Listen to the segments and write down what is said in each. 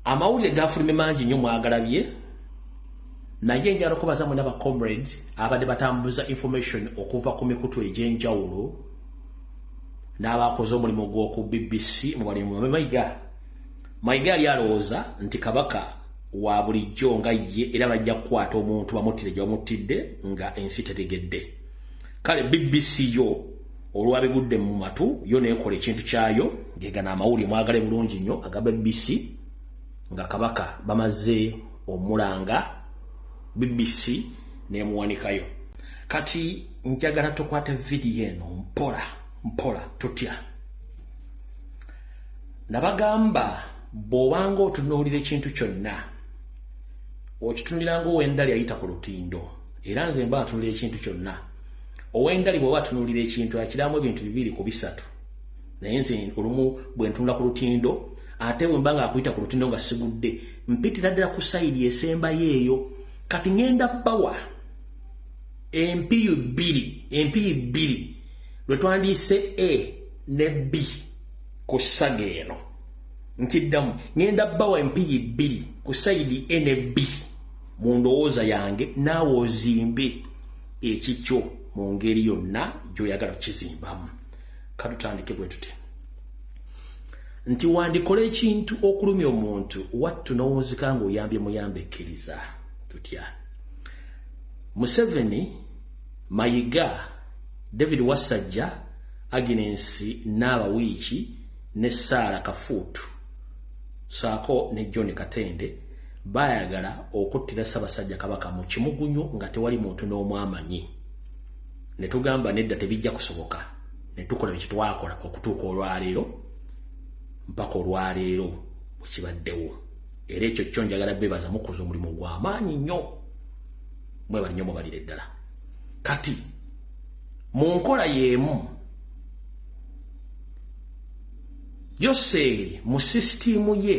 amawulire gafulumye mangi nnyo mwagalabye naye njala okubaza mwena ba comrade abadde batambuza information okuva ku mikutu egy'enjawulo n'abakoze omulimu gw'oku bbc mu balimu babe mayiga mayiga yali alowooza nti kabaka wa bulijjo nga ye era bajja kukwata omuntu bamuttire gye bamuttidde nga ensi tetegedde kale bbc yo olwabigudde mu matu yo nekola ekintu kyayo gegana amawulire mwagale bulungi nnyo agaba bbc nga kabaka bamaze omulanga bbc nemuwanikayo kati njagala tukwate vidiyo eno mpola mpola tutya nabagamba bwobanga otunuulira ekintu kyonna okitunuliranga owendali ayita ku lutindo era nze mba atunulira ekintu kyonna owengali bwoba atunulira ekintu akiramu ebintu bibiri ku bisatu naye nze olumu bwentunula ku lutindo ate bwemba nga akuyita ku lutindo nga sigudde mpitira ddala ku sayidi esembayo eyo kati ngenda bawa empiyu bbiri empiyu bbiri lwe twandiise a ne b ku saga eno nkiddamu ngenda bawa empiyi bbiri ku sayidi a ne b mu ndowooza yange naawe ozimbe ekikyo mu ngeri yonna gy'oyagala kukizimbamu katutandike bwe tute nti wandikola ekintu okulumya omuntu wattu n'owunzika ng'oyambye muyambe ekkiriza tutya museveni mayiga david wasajja aginensi n'abawiiki ne saala kafuutu saako ne john katende bayagala okuttira ssabasajja kabaka mu kimugunyu nga tewali muntu n'omu amanyi ne tugamba nedda tebijja kusoboka ne tukola bye kitwakola okutuuka olwaleero mpaka olwaleero bwe kibaddewo era ekyo kyo njagala bebaza mukoze omulimu gw'amaanyi nnyo mwebali nnyo mubalire ddala kati mu nkola y'emu yoseeri mu sisitiimu ye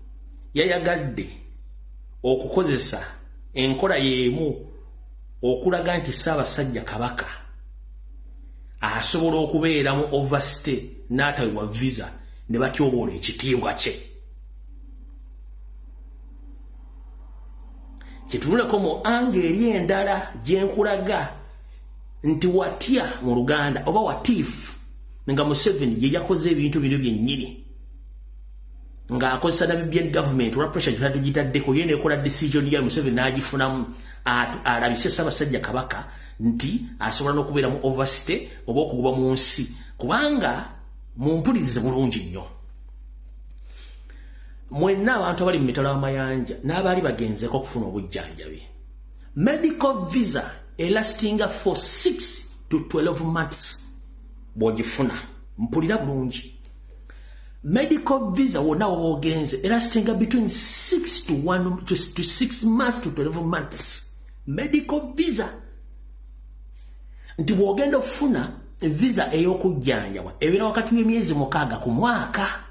yayagadde okukozesa enkola yeemu okulaga nti ssaabasajja kabaka asobola okubeera mu overstay n'atawewa visa ne batyoboola ekitiibwa kye kyetunuleko mu anga eri endala gyenkulaga nti watya mu luganda oba watiifu nga museveni ye yakoze ebintu bino byennyini ng'akozesa namibian government olwa pressure gyetali tugitaddeko ye nekola decision yayo museveni n'agifunamu alabise ssaabasajja kabaka nti asobola n'okubeera mu overstay oba okugoba mu nsi kubanga mumpulirize bulungi nnyo mwenna abantu abali mu mitalo amayanja n'abaali bagenzeko okufuna obujjanjabi medical visa elastinga for 6 to 12 months bw'ogifuna mpulira bulungi medical visa wona woba ogenze era sitinga between 6 to 1 to 6 months to 12 months medical visa nti bwogenda okufuna visa ey'okujjanjabwa ebeera wakati w'emyezi mukaaga ku mwaka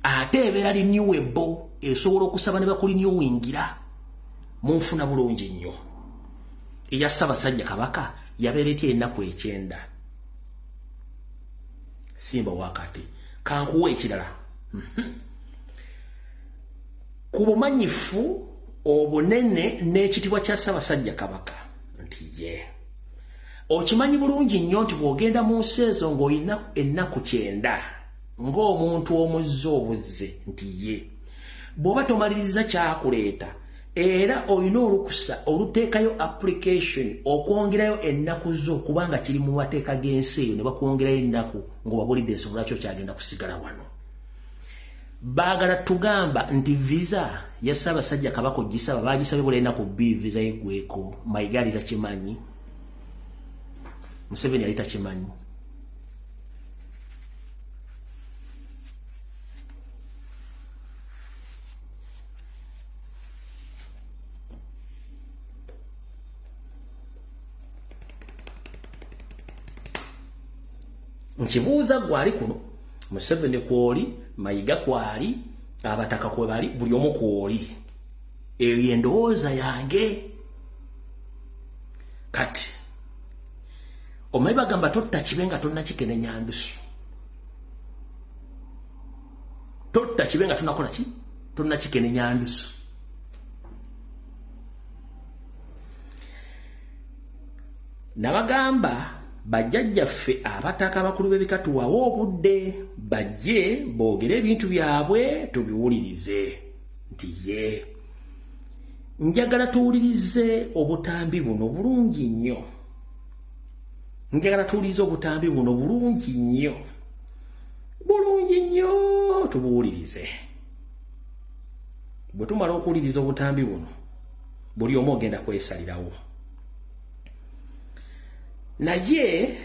ate ebeera liniwebo esobola okusaba ne bakuliniowingira mu nfuna bulungi nnyo eya ssabasajja kabaka yabeera etya ennaku ekyenda simba wakati kankuwa ekirala mhm. ku bumanyifu obunene n'ekitibwa kya ssabasajja kabaka nti ye okimanyi bulungi nnyo nti bw'ogenda mu nsi ezo ng'olina ennaku kyenda ng'omuntu omuzze obuzze nti ye bw'oba tomaliriza kyakuleeta era olina olukusa oluteekayo application okwongerayo ennaku zo kubanga kiri mu mateeka g'ensi eyo ne bakwongerayo ennaku ng'obabulidde ensonga lwaki okyagenda kusigala wano baagala tugamba nti visa ya ssaabasajja kabaka ogisaba baagisabye bula ennaku bbiri visa yeggweko mayiga ali takimanyi museveni yali takimanyi nkibuuza gwali kuno museveni kwoli mayiga kwali abataka kwebali buli omu kwoli eyo endowooza yange kati omanyi bagamba totta kibe nga tonna kikenenya ndusu totta kibe nga tunakola ki tonna kikenenya ndusu nabagamba bajjajjaffe abataka abakulu b'ebika tuwawe obudde bajje boogere ebintu byabwe tubiwulirize nti ye njagala tuwulirize obutambi buno bulungi nnyo njagala tuwulirize obutambi buno bulungi nnyo bulungi nnyo tubuwulirize bwe tumala okuwuliriza obutambi buno buli omu ogenda kwesalirawo naye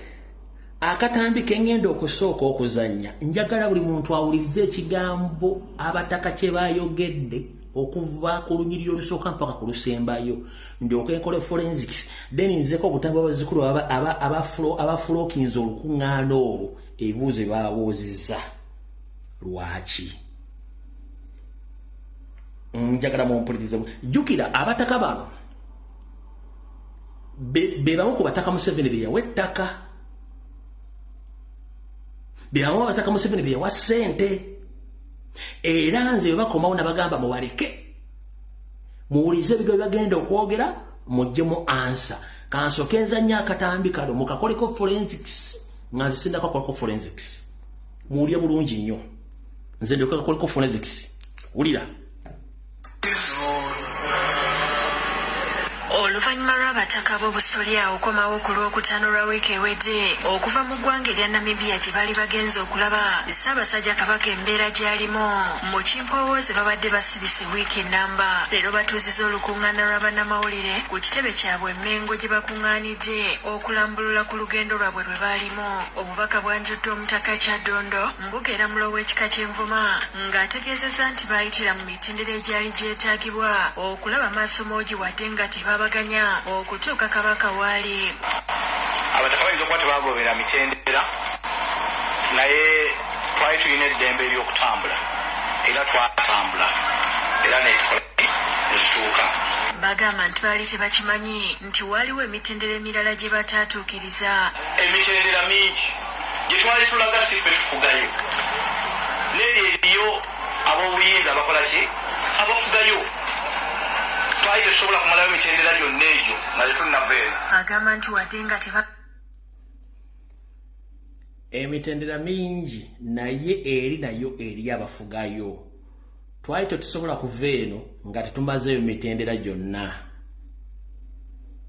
akatambi kengenda okusooka okuzanya njagala buli muntu awulirize ekigambo abataka kye bayogedde okuva ku lunyiriri olusooka mpaka ku lusembayo ndyoka enkole forensics then nzeko obutambi abazikulu abafulookinza olukuŋŋaana olwo ebibuuzo byebababuuzizza lwaki njagala mumpulirize jjukira abataka bano bebamu ku bataka museveni beyawa ettaka bebamu abataka museveni beyawa ssente era nze bebakomawo nabagamba mubaleke muwulize ebigo byebagenda okwogera mujje mu ansa kansoke nzanya akatambi kalo mukakoleko forensics nga nze sindako akolako forensics muwulire bulungi nnyo nze ndyoka akoleko forensics wulira oluvannyuma lw'abataka b'obusolya okomawo ku lw'okutaano lwa wiiki ewedde okuva mu ggwanga erya namibiya gye baali bagenze okulaba ssaabasajja kabaka embeera gy'alimu mu kimpowooze babadde basibise wiiki nnamba leero batuuziza olukuŋŋaana lw'abannamawulire ku kitebe kyabwe emengo gye bakuŋŋaani Besigye okulambulula ku lugendo lwabwe lwe baalimu. Obubaka bwanjuddwa Omutaka Kyaddondo, Mbuga era Mulo w'ekika ky'Envuma ng'ategeezezza nti baayitira mu mitendera egyali gyetaagibwa okulaba Maasomoogi wadde nga tebaabaganya okutuuka Kabaka waali. Abataka bayinza okuba tebaagobera mitendera naye twali tulina eddembe ery'okutambula era twatambula era ne tukola ne tutuuka. Bagamba nti baali tebakimanyi nti waaliwo emitendera emirala gye bataatuukiriza. Emitendera mingi gye twali tulaga si ffe tufugayo, n'eri eriyo ab'obuyinza abakola ki abafugayo twali tetusobola kumalayo mitendera gyonna egyo nga tetunnava eno. Agamba nti wadde nga teba emitendera mingi naye eri nayo eri abafugayo. twali tetusobola kuva eno nga tetumazeeyo mitendera gyonna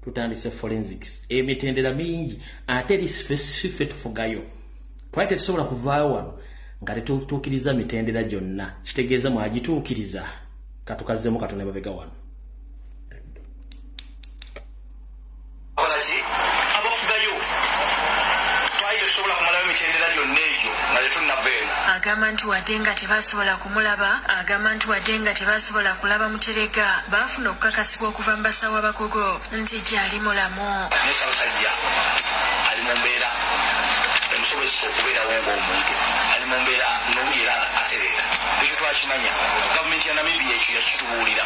tutandise forensics emitendera mingi ate eri specifife tufugayo twali tetusobola kuvaayo wano nga tetutuukiriza mitendera gyonna kitegeeza mwagituukiriza katukazzemu katonda babega wano agamba nti wadde nga tebasobola kumulaba agamba nti wadde nga tebasobola kulaba muterega baafuna okukakasibwa okuva mu basawo abakugu nti gyali mulamu nesabasajja ali mu mbeera emusobozesa okubeerawo ngaomuntu ali mu mbeera nowuliera atereera ekyo twakimanya gavumenti ya namibia ekyo yakitubuulira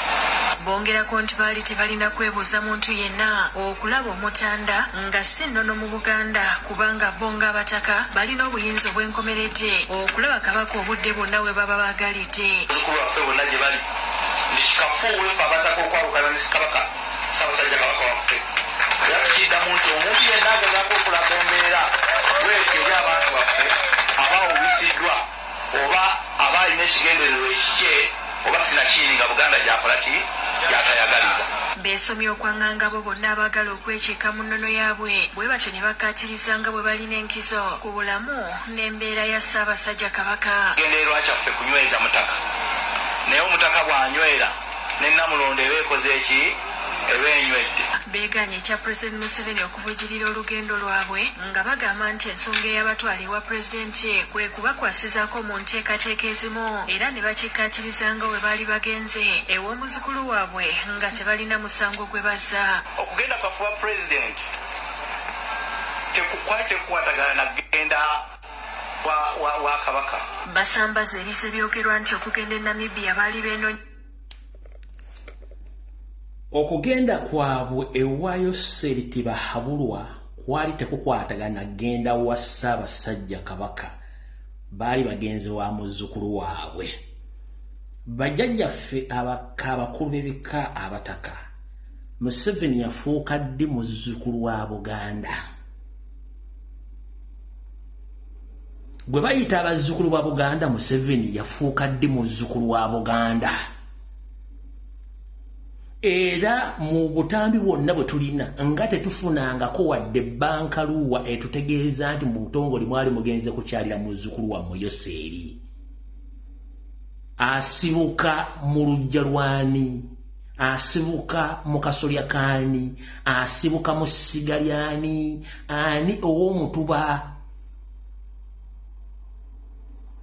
bongerako nti baali Tebalina kwebuuza muntu yenna okulaba Omutanda nga ssi nnono mu Buganda kubanga bo ng'Abataka balina obuyinza obw'enkomeredde okulaba Kabaka obudde bwonna we baba baagalidde. Bazzukulu baffe bonna gye bali nti kikafuuwe ffe Abataka okwawukana ne Kabaka, Ssaabasajja Kabaka waffe. Era tukiddamu nti omuntu yenna agezaako okulaga embeera bw'etyo eri abantu baffe aba awubisiddwa. oba aba alina ekigendererwa ekikye oba sinakiini nga Buganda gyakola ki? Gyatayagaliza. Beesomye okwang'anga abo bonna abaagala okwekiika mu nnono yaabwe bwe batyo ne bakkaatiriza nga bwe balina enkizo ku bulamu n'embeera ya Ssaabasajja Kabaka. Ekigendererwa kyaffe kunyweza Mutaka naye Omutaka bw'anywera ne Nnamulondo eba ekoze ki? Eba enywedde. Beegaanye ekya Pulezidenti Museveni oku. bwejirira olugendo lwabwe nga bagamba nti ensonga eyabatwala ewa Pulezidenti kwe kubakwasizaako mu nteekateeka ezimu era ne bakikkaatiriza nga bwe baali bagenze ew'omuzukulu waabwe nga tebalina musango gwe bazza. Okugenda kwaffe ewa Pulezidenti tekwali tekukwatagana na kugenda kwa Kabaka. Basambaze ebise byogerwa nti okugenda e Namibia baali beenonya. okugenda kwabwe ewa yoseeri tibahabulwa kwali tekukwatagana genda wa ssaabasajja kabaka baali bagenzi wa muzzukulu waabwe bajjajjaffe abaka abakulu b'ebika abataka museveni yafuuka ddi muzzukulu wa buganda gwe bayita abazzukulu ba buganda museveni yafuuka ddi muzzukulu wa buganda era mu butambi bwonna bwe tulina nga tetufunangako wadde banka luuwa etutegeeza nti mu butongole mwali mugenze kukyalira muzzukulu wammwe yoseeri asibuka mu lujja lwani asibuka mu kasolya kaani asibuka mu ssiga lyani ani ow'omutuba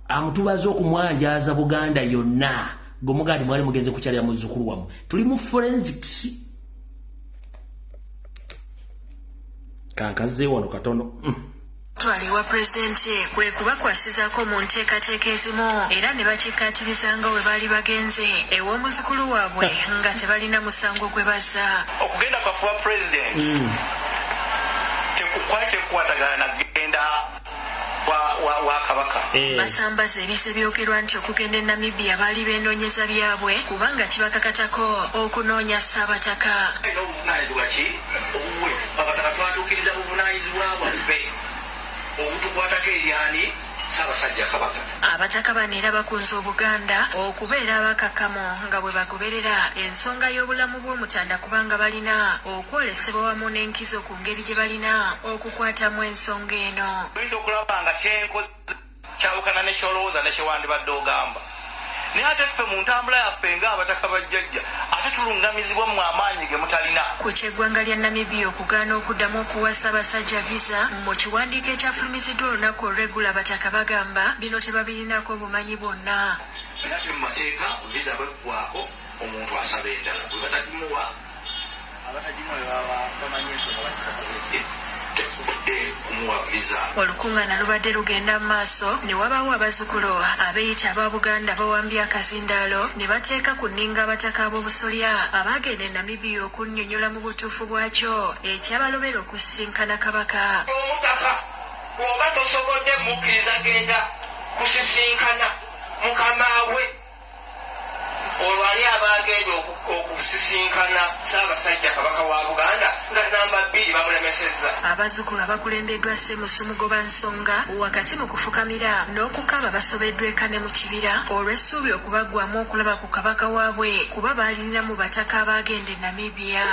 amutubaza okumwanjaaza buganda yonna gwe mugaa ti mwali mugenze kukyalira muzzukulu wamu tuli mu forensics kankazze wano katono mm. Twala ewa Pulezidenti kwe kubakwasizaako mu nteekateeka ezimu era ne bakikkaatiriza nga bwe baali bagenze ew'omuzukulu waabwe nga tebalina musango gwe bazza. Okugenda kwaffe ewa Pulezidenti tekukwali tekukwatagana na kugenda wa Kabaka. Basambaze ebize byogerwa nti okugenda e Namibia baali beenoonyeza byabwe kubanga kibakakatako okunoonya Ssaabataka. Obuvunaanyizibwa ki obuwe Abataka? Twatuukiriza buvunaanyizibwa bwaffe obutukwatako eri ani? Ssaabasajja Kabaka. Abataka bano era bakunze Obuganda okubeera abakakamu nga bwe bagoberera ensonga y'obulamu bw'Omutanda kubanga balina okwolesebwa wamu n'enkizo ku ngeri gye balina okukwatamu ensonga eno. Oyinza okulaba nga kye nkoze. Kyawukana ne ky'olowooza ne kye wandibadde ogamba. Naye ate ffe mu ntambula yaffe nga Abataka ba Jjajja ate tulungamizibwa mmwe amaanyi ge mutalina. Ku ky'eggwanga lya Namibia okugaana okuddamu okuwa Ssaabasajja Visa, mu kiwandiiko ekyafulumiziddwa olunaku olw'eggulo Abataka bagamba bino tebabirinaako bumanyi bwonna. Era ate mu mateeka Visa bw'eggwaako omuntu asaba endala bwe batagimuwa. Olukungana lubadde lugenda mu maaso ne wabaawo abazukulu abeyita aba Buganda bawambye akazindaalo ne bateeka ku nninga abataka ab'obusolya abaagenda e Namibia okunnyonnyola mu butuufu bwakyo ekyabalobera okusisinkana Kabaka. Omutaka bw'oba tosobodde mukkiriza genda kusisinkana mukamaawe. Olwo ani aba agenda okusisinkana Ssaabasajja Kabaka wa Buganda nga nnamba bbiri bamulemesezza? Abazzukulu abakulembeddwa Ssemusu Mugobansonga wakati mu kufukamira n'okukaaba basobeddwa eka ne mu kibira olw'essuubi okubaggwaamu okulaba ku Kabaka waabwe kuba baalirinamu bataka abaagenda e Namibia.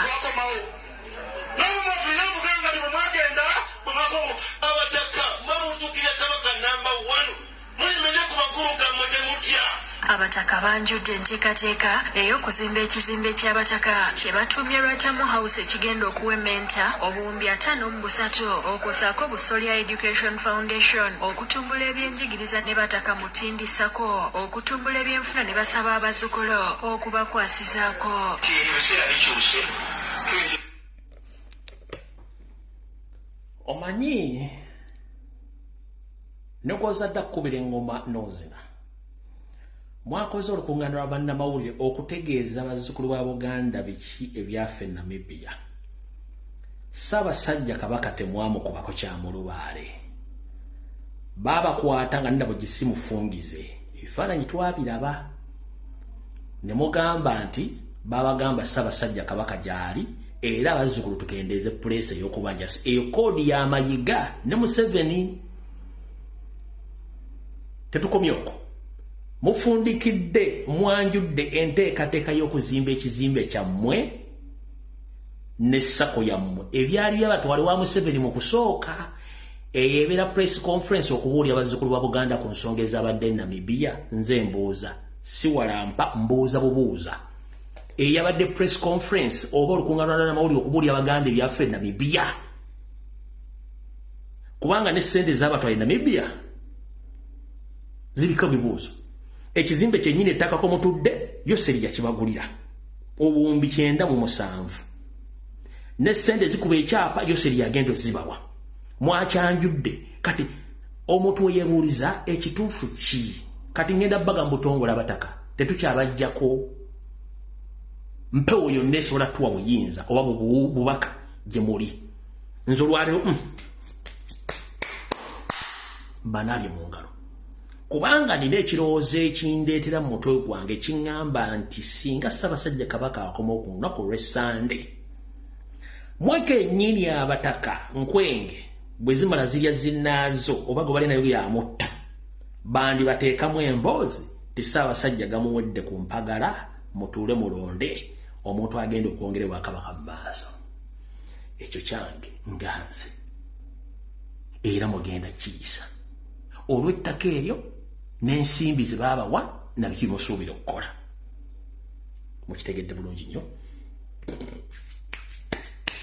Abataka banjudde enteekateeka ey'okuzimba ekizimbe ky'Abataka kye batuumye Lwatamu House ekigenda okuwemmenta obuwumbi ataano mu busatu okwo ssaako Busolya Education Foundation okutumbula ebyenjigiriza ne Bataka Mutindi sacco okutumbula ebyenfuna ne basaba abazzukulu okubakwasizaako. omanyi nekwozadde kukubira engoma nozina mwakoze olukungana lwa bannamawulire okutegeeza bazzukulu ba buganda biki ebyafa e namibia ssaabasajja kabaka temwamukubako kyamulubaale baabakwata nga nina bwe gisimufungize ebifaananyi twabiraba ne mugamba nti babagamba ssabasajja kabaka gyali era abazzukulu tukendeeze puleesa ey'okubanja eyo koodi ya mayiga ne museveni tetukomye okwo mufundikidde mwanjudde enteekateeka y'okuzimba ekizimbe kyammwe ne sako yammwe ebyali byabatwale wa museveni mu kusooka eyo ebeera press conference okubuulya abazzukulu ba buganda ku nsonga ezabadde namibiya nze mbuuza siwalampa mbuuza bubuuza eyabadde press conference oba olukunganwanamawulire okubuulya abaganda ebyafe namibiya kubanga ne sente zabatwale namibiya ziriko bibuuzo ekizimbe kyenyini ettaka komutudde yo serija kibagulira obuwumbi kyenda mu musanvu ne sente zikuba ekyapa yo serija agenda ozibawa mwakyanjudde kati omuntu weyebuuliza ekituufu ki kati ngenda baga mubutongola abataka tetukyabajjako mpewo yonna esobola tuwa buyinza oba bubaka gye muli nze olwaliro mm. mbanaabye mu ngalo kubanga nina ekirowoozo ekindeetera mu mutwe gwange kiŋŋamba nti singa ssabasajja kabaka akoma oku lunaku olw'essande Mwe kennyini abataka nkwenge bwe zimala zirya zinnaazo oba gwe bali nayo yamutta bandi bateekamu emboozi ti ssaabasajja gamuwedde ku mpagala mutuule mulonde omuntu agenda okwongera obwakabaka mu maaso ekyo kyange nga nze era mugenda kiyisa olw'ettaka eryo n'ensimbi ze baabawa nabiki musuubira okukola mukitegedde bulungi nnyo